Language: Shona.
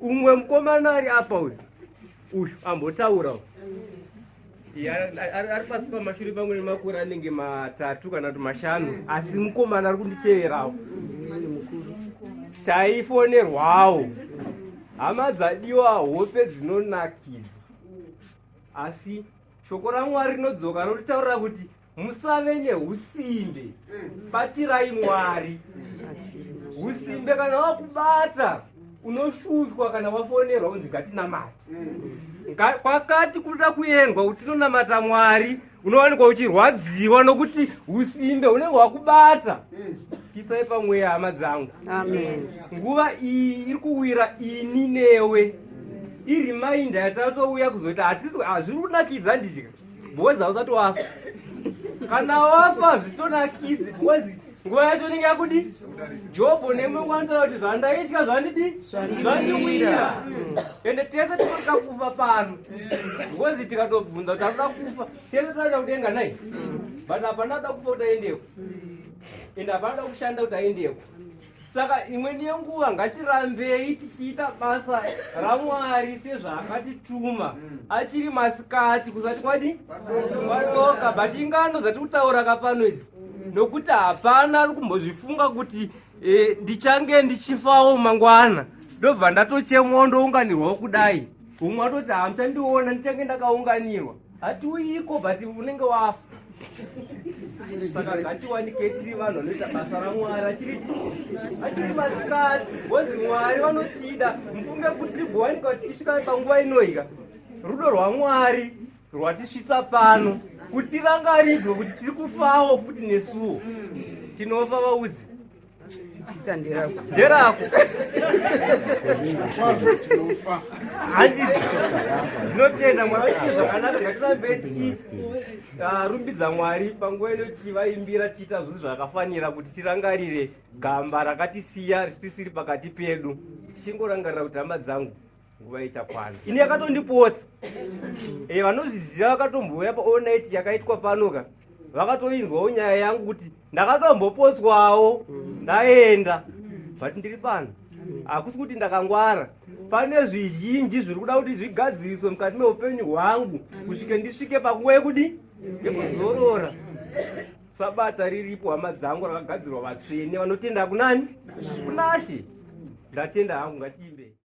umwe mukomana ari apa uyu uyu ambotaura ari pasi pamashure pamwe nemakore anenge matatu kana kuti mashanu asi mukomana ari kunditeverawo taifonerwawo hama dzadiwa hope dzinonakidza asi shoko ramwari rinodzoka rotitaurira kuti musave neusimbe batirai mwari usimbe kana wakubata unoshushwa kana wafonerwa unzi ngatinamate kwakati kuda kuendwa kuti tinonamata mwari unowanikwa uchirwadziwa nokuti usimbe unenge wakubata kisai pamweya hama dzangu nguva iyi iri kuwira ini newe irimainda yatatouya kuzoti hazviri kunakidza ndizika boys hausati wafa kana wafa zvitonakidzi boys nguva yacho inenge yakudi jobho nemwe kwanitara kuti zvandaitya zvandidi zvandiwira ende tese tinotya kufa pano ngozi tikatobvunza kuti akuda kufa tese tinoenda kudenga nai but hapana da kufa kuti aendeko ende hapana da kushanda kuti aendeko saka imweni yenguva ngatirambei tichiita basa ramwari sezvaakatituma mm. achiri masikati kusati kwadi kwadoka but ingano dzati kutaura ka pano idzi mm. nokuti hapana ari kumbozvifunga kuti eh, ndichange ndichifawo mangwana ndobva ndatochemwa ndounganirwawo kudai umwe atoti hamuchandiona ndichange ndakaunganirwa hatiuyiko but unenge wafa saka ngatiwanike tiri vanhu vanoita basa ramwari achiri achiri masikati bhozi mwari vanotida mufunge kuti tigowanika tichisvika panguva inoika rudo rwamwari rwatisvitsa pano kuti vangaridzwe kuti tiri kufawo futi nesuwo tinofa vaudzi Zita nderako. Nderako. Handisi. Ndinotenda Mwari kuti zvakanaka ngatirambe tichirumbidza ah, Mwari panguva ino tichivaimbira tichiita zvinhu zvakafanira kuti tirangarire gamba rakatisiya risisiri pakati pedu. Tichingorangarira kuti hama dzangu nguva ichakwana ini yakatondipotsa e, vanozviziva vakatombouya paonit yakaitwa pano ka vakatoinzwawo nyaya yangu kuti ndakatombopotswawo ndaenda but ndiri pano hakusi kuti ndakangwara pane zvizhinji zviri kuda kuti zvigadziriswe mukati meupenyu hwangu kusvike ndisvike panguva yekudi yekuzorora sabata riripo hama dzangu rakagadzirwa vatsvene vanotenda kunani kunashe ndatenda hangu ngatiimbe